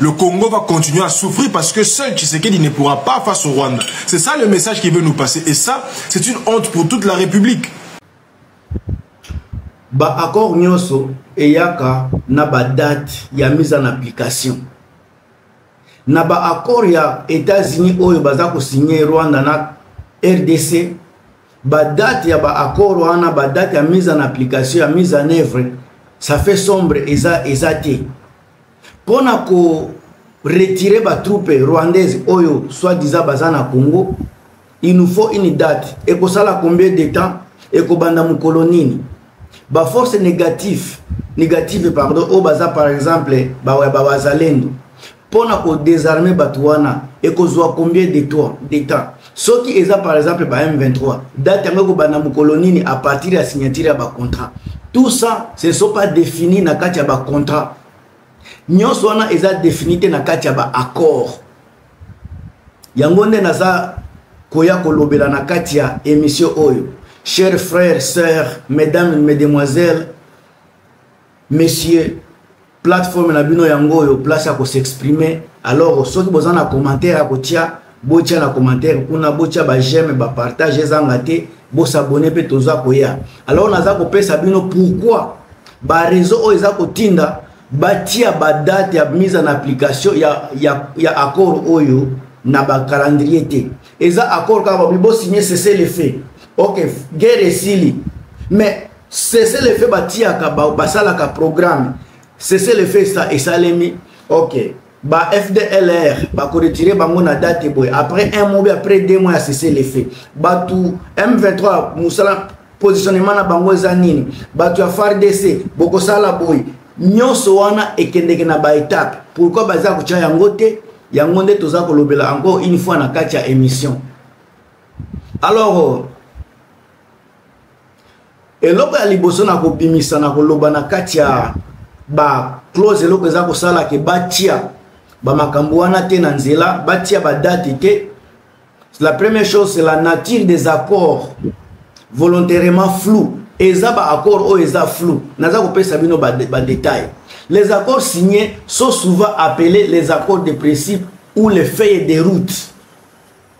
Le Congo va continuer à souffrir parce que seul Tshisekedi ne pourra pas face au Rwanda. C'est ça le message qu'il veut nous passer. Et ça, c'est une honte pour toute la République. Ba accord nyoso eyaka na ba date ya mise en application. Na ba accord ya États-Unis oyo baza ko signer Rwanda na RDC, ba date ya ba accord wana ba date ya mise en application ya mise en œuvre, ça fait sombre eza eza te. mpo na ko retire batroupe rwandaise oyo soit disant baza na congo il nous faut une date ekosala combien de temps ekobanda mokolo nini baforce négative négative pardon oyo baza par exemple bawazalendo mpo na kodesarme bato wana ekozwa combien de temps soki eza par exemple ba m23 date yango ekobanda mokolo nini à partir ya signature ya bacontrat tout ça ce ne sont pas défini na kati ya bacontrat nyonso wana eza défini te na kati ya baaccord yango nde naza koya kolobela na kati ya émission oyo chers frères sœurs mesdames mesdemoiselles monsieur plateforme na bino yango oyo place ya kosexprime alors soki boza na commentaire ya kotia botia na commentaire kuna botia bajeme bapartage ezanga te bosabone mpe toza koya alors naza kopesa bino pourkui bareseau oyo eza kotinda batia badate ya mise en application ya, ya, ya accord oyo na bacalendrier te eza accord kaka babi bosigne cese le fait ok guerre esili mais cessez le feu batiyaka basalaka programme cessez le feu esalemi ok ba fdlr bakoretire bango na date boye après un mois après deux mois ya cessez le feu bato m23 mosala positionnement na bango eza nini bato ya fardc bokosala boye nyonso wana ekendeke na baetape pourkui baza kotya yango te yango nde toza kolobela yango une fois na kati ya émission alors eloko ya liboso na kobimisa na koloba na kati ya ba clause eloko eza kosala ke batia bamakambo wana te na nzela batia badate te la première chose c'est la nature des accords volontairement flou eza baaccord oyo eza flou naza kopesa bino badetail ba les accords signés sont souvent appelés les accords de principe ou les feuilles de route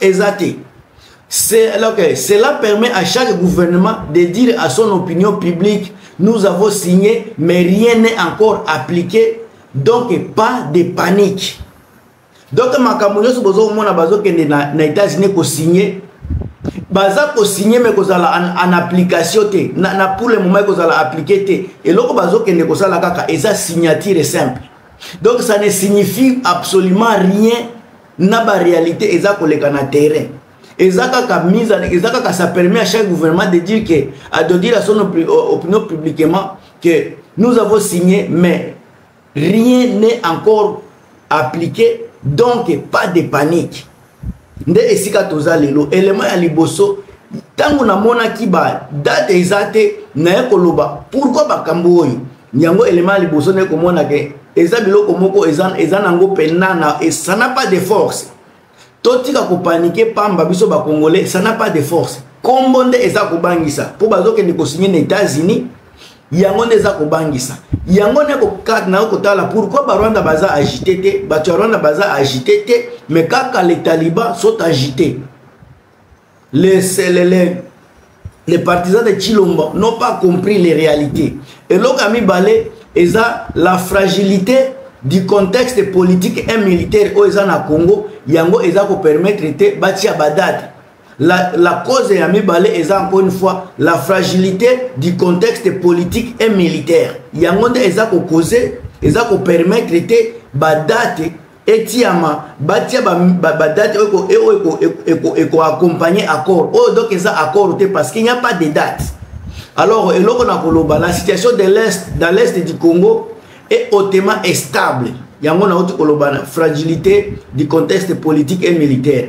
eza te cela permet à chaque gouvernement de dire à son opinion publique nous avons signé mais rien n'est encore appliqué donc pas de panique donc makambo nyonso boza komona bazokende na, na états-unis kosigne baza kosigne me kozala en, en application te na, na pour le moment ekozala appliqué te eloko bazokende kosala kaka eza signature simple donc ça ne signifie absolument rien na ba réalité eza koleka na terrain eza kaka mise en eza kaka ça permet à chaque gouvernement de dire que à de dire à son opinion publiquement que nous avons signé mais rien n'est encore appliqué donc pas de panique nde esika toza lelo elema ya liboso ntango namonaki badate eza te naye koloba pourkui makambo oyo yango elema ya liboso nde komona ke eza biloko moko eza, eza nango mpena na ça n'a pas de force totika kopanike pamba biso bakongole ça n'a pas de force nkombo nde eza kobangisa mpo bazokende kosinye na états-unis yango nde eza kobangisa yango nde nayo kotala pourkui barwanda baza agite te bato ya rwanda baza agite te mais kaka le taliban sont agite les, les, les, les partisans de Chilombo n'ont pas compris les réalités. Et l'Okami Balé est la fragilité du contexte politique et militaire au Zana Congo, Yango Ezako permettre de bâtir Badad. La, la cause ya mibale eza encore une fois la fragilité du contexte politique et militaire yango nde eza kokose eza kopermettre te badate etiama batia badate oyo ekoaccompagne accord oyo donc eza accord te parce qu'il n'y a pas de date alors eloko na koloba la situation de l'est dans l'est du congo est hautement estable yango nauti koloba na fragilité du contexte politique et militaire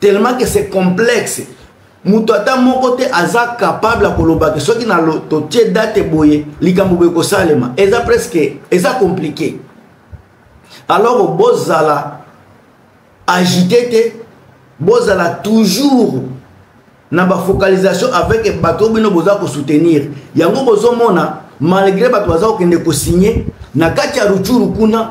tellement que c'est complexe moto ata moko te aza capable ya koloba ke soki na totie date boye likambo boye kosalema eza presque eza compliqué alors bozala agite te bozala toujours na bafocalisation avec bato bino boza kosoutenir yango bozomona malgré bato baza kokende kosigne na kati ya ruchuru kuna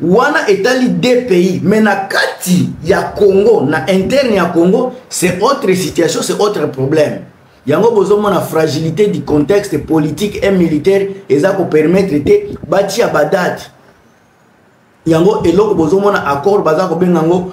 wana etali deux pays mais na kati ya congo na interne ya congo c'est autre situation c'est autre problème yango bozomona fragilité du contexte politique et militaire eza kopermettre te batia badate yango eloko bozomona accord baza kobenga yango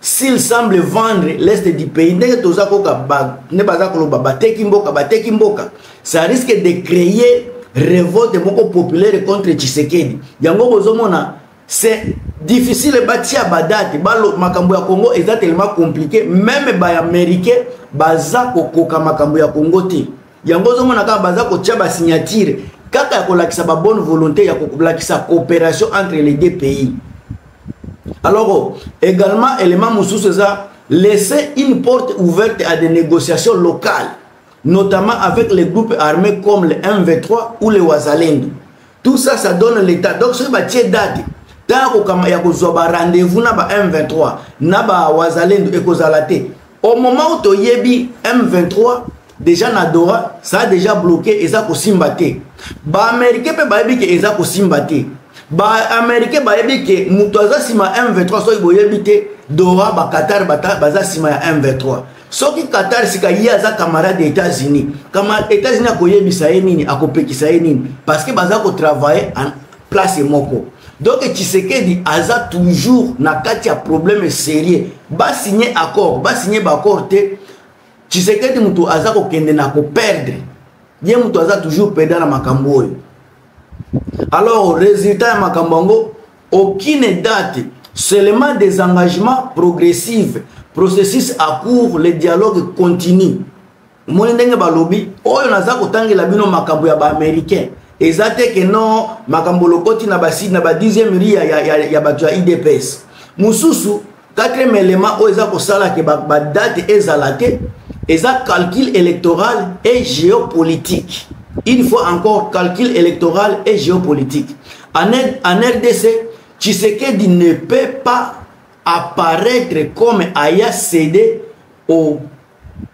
s'il semble vendre l'est du pays ndenge toza koka nde baza koloba bateki mboka bateki mboka ça risque de créer revolte moko populaire contre tshisekedi yango bozomona c'est difficile batia badate balo makambo ya congo eza tellement compliqué meme baaméricain baza kokoka makambo ya congo te yango ozomona kaka baza kotya basignature kaka ya kolakisa babonne volonté ya kolakisa coopération entre les deux pays alors également élément mosusu eza laisser une porte ouverte à des négociations locales notamment avec les groupes armés comme le mv3 ou le wazalendo tout ça ça donne l'état donc soki batie date ntango ya kozwa barendez-vous na ba m23 na bawazalendo ekozala te au moment où toyebi m23 déjà na dora ça a déjà bloqué eza kosimba te baaméricain mpe bayebi ke eza kosimba te baaméricain bayebi ke moto aza nsima ya m23 soki boyebi te dora baqatar baza nsima ya m23 soki qatar sika ye aza camarade ya états-unis états-unis akoyebisa ye nini akopekisa ye nini parce que baza kotravaille place moko donc tshisekedi aza toujours na kati ya problème sérieux basigne accord basigne baaccord te tshisekedi moto aza kokende na koperdre ye moto aza toujours peda na makambo oyo alors résultat ya makambo yango aucune date seulement des engagements progressives processus à court le dialogue continue omoni ndenge balobi oyo naza kotangela bino makambo ya baaméricain eza te ke non makambo lokoti na baside na ba 10e ri ya, ya, ya, ya bato ya idps mosusu 4e element oyo eza kosala ke badate ba ezala te eza calcul électoral et géopolitique une fois encore calcul électoral et géopolitique en, en rdc tshisekedi ne peut pas apparaître comme aya cédé au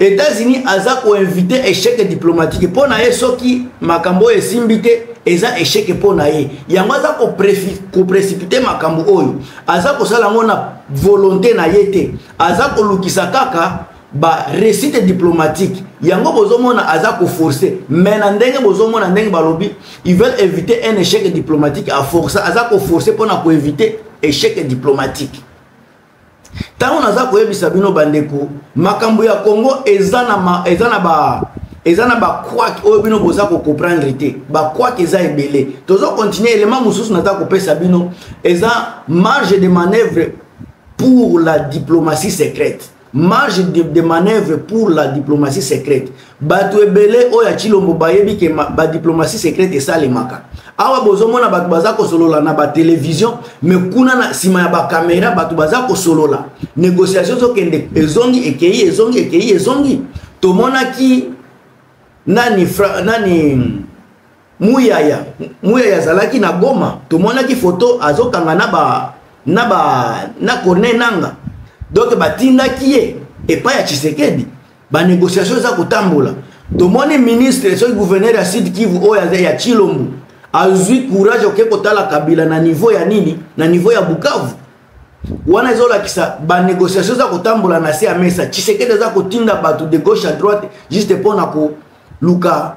Etats-Unis aza ko inviter échec diplomatique mpo na ye soki makambo oyo esimbi te eza échec mpo na ye yango aza koprécipite makambo oyo aza kosala yango na volonté na ye te aza kolukisa kaka ba récite diplomatique yango bozomona aza koforce mais na ndenge bozomona ndenge balobi ils veulent éviter un échec diplomatique aforce aza koforce mpo na koéviter échec diplomatique ntango naza koyebisa bino bandeko makambo ya congo eza na ma, eza na ba eza na bakwake oyo bino boza kocomprendre te bakwake eza ebele tozo continue elema mosusu naza kopesa bino eza marge de manœuvre pour la diplomatie secrète marge de, de manœuvre pour la diplomatie secrète bato ebele oyo ya chilombo bayebi ke badiplomatie secrète esalemaka awa bozomona bato baza kosolola na batelevizio me kuna na nsima ya bakamera bato baza kosolola négociation ezokende ezongi ekei ezongi ekei ezongi tomonaki nani, fra, nani muyaya muyaya azalaki na goma tomonaki foto azokanga na ba na ba na corne nanga donc batindaki ye epai ya tshisekedi banégociation eza kotambola tomoni ministre soki gouverneur ya sud kivu oyo aza ya tshilombo azwi courage oke kotala kabila na niveau ya nini na niveau ya bukavu wana ezolakisa banégociation eza kotambola na se ya mesa tshisekedi aza kotinda bato de gauche à droite juste mpo na koluka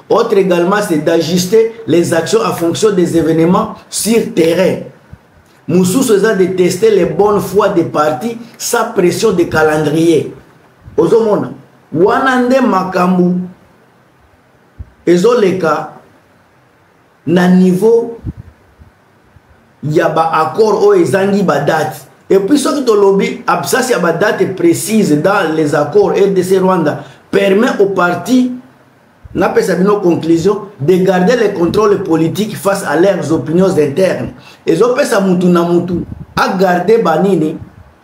Autre également, c'est d'ajuster les actions en fonction des événements sur terrain. Moussous a de tester les bonnes fois des parties sans pression de calendrier. Ozomona, wanande makambu, ezoleka na niveau ya ba accord oyo ezangi ba date et puis soki tolobi absence ya ba date précise dans les accords rdc rwanda permet au parti napesa bino conclusion de garder le contrôle politique face à leurs opinions internes ezopesa mutu na mutu agarde banini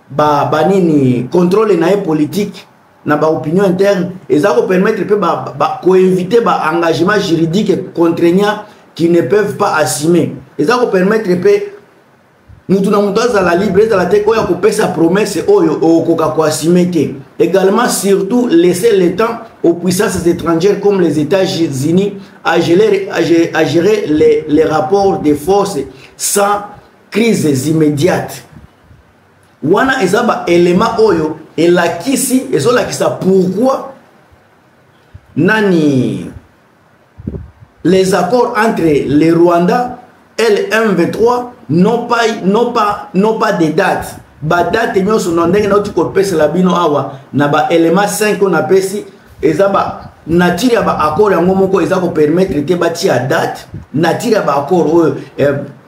ba, banini contrôle na ye politique na baopinion interne eza kopermettre mpe koinvite ba, ba baengagement juridique contraignant qui ne peuvent pas assumer eza kopermettre mpe moto na moto azala libre ezala te oyo akopesa promesse oyo okoka koasime te également surtout laisser le temps aux puissances étrangères comme les états-unis à gérer, à gérer les, les rapports de force sans crises immédiates wana eza baélément oyo elakisi ezolakisa pourquoi nani les accords entre le Rwanda et le M23 n'ont pas, n'ont pas, n'ont pas de date. Ba date nyonso na ndenge nauti kopesela bino awa na ba élément 5 oyo napesi eza ba nature ya ba accord yango moko eza kopermettre te batia date nature ya ba accord oyo eh,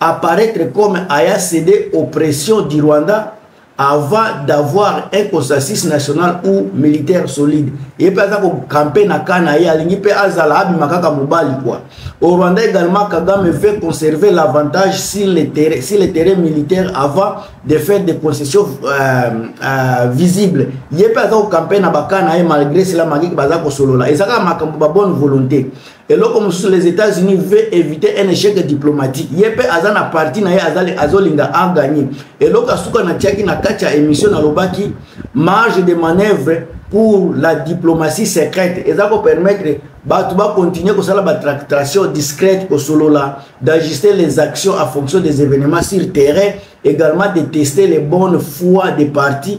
apparaître comme aya cédé aux pressions du Rwanda avant d'avoir un consensus national ou militaire solide ye mpe aza kokampe na ka na ye alingi mpe azala abima kaka mobali kua au rwanda également kagame veut conserver l'avantage sur le terrain, sur le terrain militaire avant de faire des concessions euh, euh, visibles ye mpe aza kokampe na baka na ye malgré cela makiki baza kosolola eza kaka makambo ba bonne volonté eloko mosusu les états-unis veut éviter un échec diplomatique ye mpe aza na parti na ye azolinga aganye eloko asuka natiaki na kati ya émission nalobaki marge de manœuvre pour la diplomatie secrète eza kopermettre bato bakontinue kosala batractation discrète kosolola d'ajuster les actions en fonction des événements sur terrain également de tester les bonnes fois des parties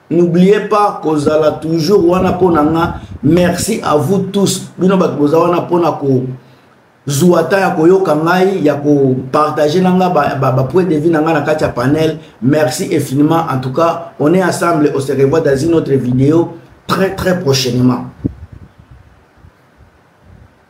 n'oubliez pas kozala toujours wana mpo na nga merci à vous tous bino bato boza wana mpo na ko zuwa ta ya koyoka ngai ya kopartage na nga bapoint ba, ba, ba de vie na ngai na kati ya panel merci infiniment en tout cas on est ensemble on se revoit dans une autre vidéo très très prochainement